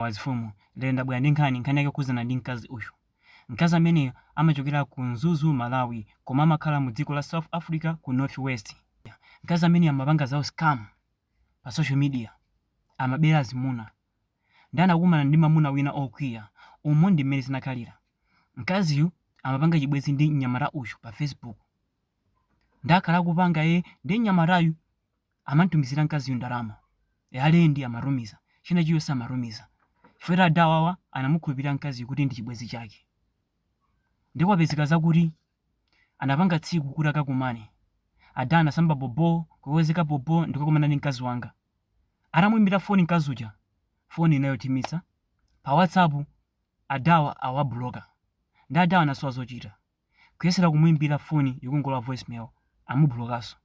Wazup mafumu. Lero ndabwera ndi nkhani, nkhani yake ikukhudzana ndi mkazi uyu. Mkazi ameneyu amachokera ku Mzuzu, Malawi, koma amakhala mu dziko la South Africa ku North West. Mkazi ameneyu amapanga za u scam pa social media. Amabera azimuna. Ndiye anakumana ndi mamuna wina okwiya. Umu ndi mmene zinakhalira. Mkaziyu amapanga chibwenzi ndi mnyamata uyu pa Facebook. Ndiye akhala akupanga ee, ndiye mnyamatayu amantumizira mkaziyu ndalama e, ya lendi amatumiza, china chilichonse amatumiza chifukwa choti ada awawa anamukhulupirira mkaziyu kuti ndi chibwenzi chake ndipo apezeka zakuti anapanga tsiku kuti akakumane ada anasamba bobo kuwezeka bobo ndikukakumana ndi mkazi wanga atamuimbira foni mkazi uja foni ina yothimitsa pa whatsapp adawa awabuloka nde adawa anasowa zochita kuyesera kumuimbira foni ikungolowa voice mail amubulokaso.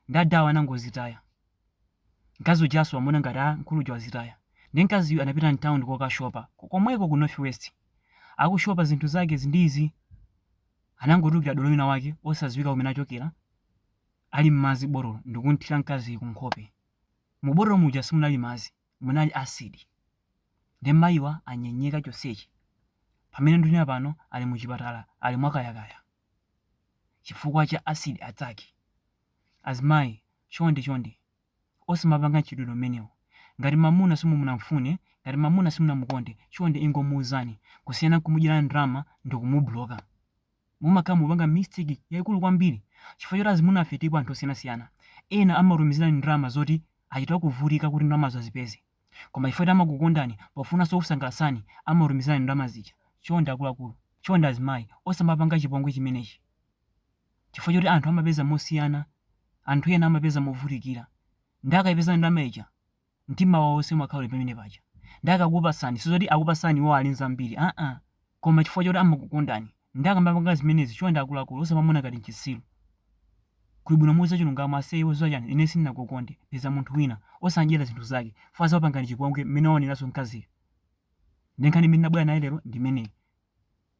Nde adhawa anangozitaya. Mkazi ujaso wamuona ngati a mkulu uja wazitaya. Nde mkaziyu anapita mtown kokashopa komweko ku North West. Akushopa zinthu zakezi ndi izi. Anangotulukira dolo wina wake osadziwika kumene achokera ali mmanja botolo ndikumthira mkaziyu kunkhope. Mu botolo muja simunali madzi. munali acid nde mayiwa anyeka chonsechi pamene ndunena pano ali muchipatala ali mwakayakaya chifukwa cha acid attack azimayi chonde chonde osamapanga mchitidwe umenewu ngati mamuna simunamfune ngati mamuna simunamukonde chonde ingomuuzani kusiyana nkumudyera ndrama ndikumubuloka. Mumakhala mukupanga mistake yaikulu kwambiri chifukwa choti azimunafe tilipo anthu osiyanasiyana ena amakutumizirani ndalama zoti achita kuvutika kuti ndalamazo azipeze koma chifukwa choti amakukondani pofunanso kukusangalatsani amakutumizirani ndalama zija chonde akuluakulu chonde azimayi osamapanga chipongwe chimenechi chifukwa choti anthu amapeza mosiyana anthu ena amapeza movutikira nde akaipeza ndalama ija mtima wawo wonse umakhala uli pamene paja ndiye akakupatsani sizoti akupatsani iwowo ali nzambiri aa koma chifukwa choti amakukondani ndiye akamapanga zimenezi chonde akuluakulu osamamuona ngati nchitsiru kuli bwino muuze chilungamo ase iwe udziwa chani ine sindinakukonde peza munthu wina osamdyera zinthu zake chifukwa azakupangani chipongwe mmene waoneraso mkaziyo ndiye nkhani imene ndinabwera nayo lero ndimeneyi